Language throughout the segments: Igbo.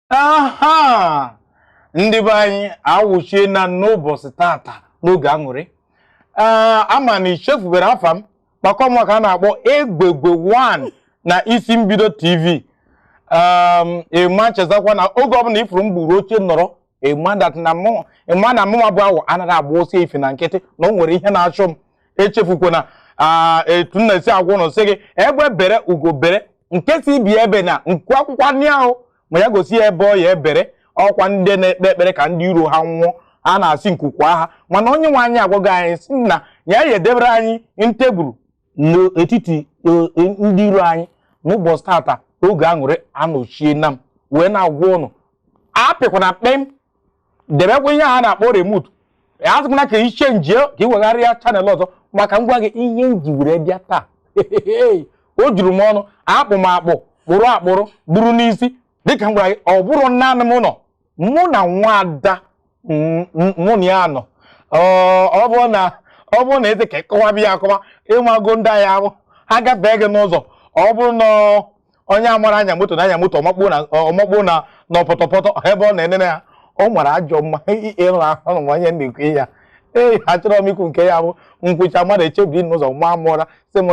aha ndị be anyị awụchiena n'ụbọchị tata n'oge aṅụrị ee ama m na ichefubero afa m maka ọ mụnwa ka a na-akpọ Egbeigwe 1 na isi mbido tv ee ịma chetakwa na oge ọbụla ifuru m buru oche nọrọ ịma that na mụ ịma na mụnwa bụ awọ anaghị agba ọsọ efifie na nkịtị na o nwere ihe na-achụ m echefukwana ah, etu m na-esi agwa ụnụ sị gị egbe bere ugo bere nke sị ibe ya ebena nku akwakwana ya o ma ya gosi ya ebe ọ ya ebere ọkwa ndị na-ekpe ekpere ka ndị iro ha nwụọ a na-asị nku kwaa ha mana onye nwe anyị agwago anyị sị na ya ya edebere anyị tebụl n'etiti e, e, ndị iro anyị n'ụbọchị tata oge aṅụrị anọchiena m wee na-agwa ụnụ apịkwana kpem debekwa ihe a na-akpọ remote asịkwana ka i chenjie ka ị wegharịa channel ọzọ maka m gwa gị ihe m ji were bịa taa o juru m ọnụ akpụ m akpụ kpụrụ akpụrụ buru n'isi dịka m gwara gị ọ bụrọ naanị m nọ mụ na nwaada mụ na ya nọ ọ bụ na ọ bụrụ na a sị ka ị kọwaba ya akọwa ịmago ndị a ya-abụ ha gafee gị n'ụzọ ọ bụrụ na onye amarọ anya moto na-anya moto ọ makpuo na pọtọpọtọ ebe ọ na-enene ya ọ mara ajọ mma ịrụ ahụ na onye na-ekwu ya ee achọrọ m ikwu nke ya-abụ m kwuchaa mmadụ echebiri n'ụzọ maa m ụra sị m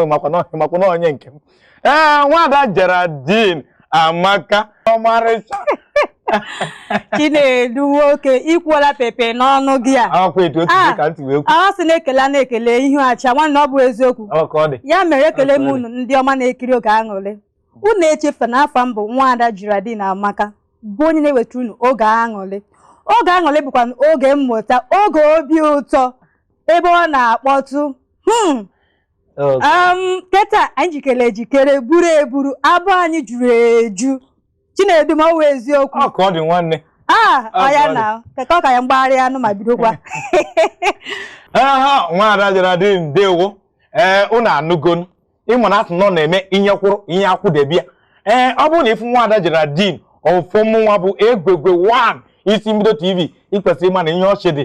makwa na onye nke m ee nwaada Geraldine Amaka ọmarịcha Chinedu nwoke ikwuola pepe n'ọnụ gị a akwa etu otu Ah. ka ntị wee kwu a sị na-ekele a na-ekele ihu achaa nwanne ọ bụ eziokwu ọ ka ọ dị ya mere ekele m Absolutely. unu ndị ọma na-ekiri oge aṅụrị unu echefuna afa m bụ nwaada Geraldine Amaka bụ onye na-eweta unu oge aṅụrị oge aṅụrị bụkwa oge mmụta oge obi ụtọ ebe ọ na-akpọtụ hmm, um, keta anyị jikere ejikere buru eburu abọ anyị juru eju Chinedu ma ọ wụ eziokwu ọ ka ọ dị nwanne Ah, ah ya na keke ọ ka ya mgbagharị anụ ma bidokwa aha nwaada Geraldine ndewo ee eh, ụnụ anụgonu ịma na a sị na ọ na-eme ihe kwụrụ ihe akwụdebe ya ee eh, ọ bụrụ na ịfụ nwaada Geraldine fụ mụnwa bụ Egbeigwe 1 isi mbido tv ikwesịrị ịma na ihe ọchị dị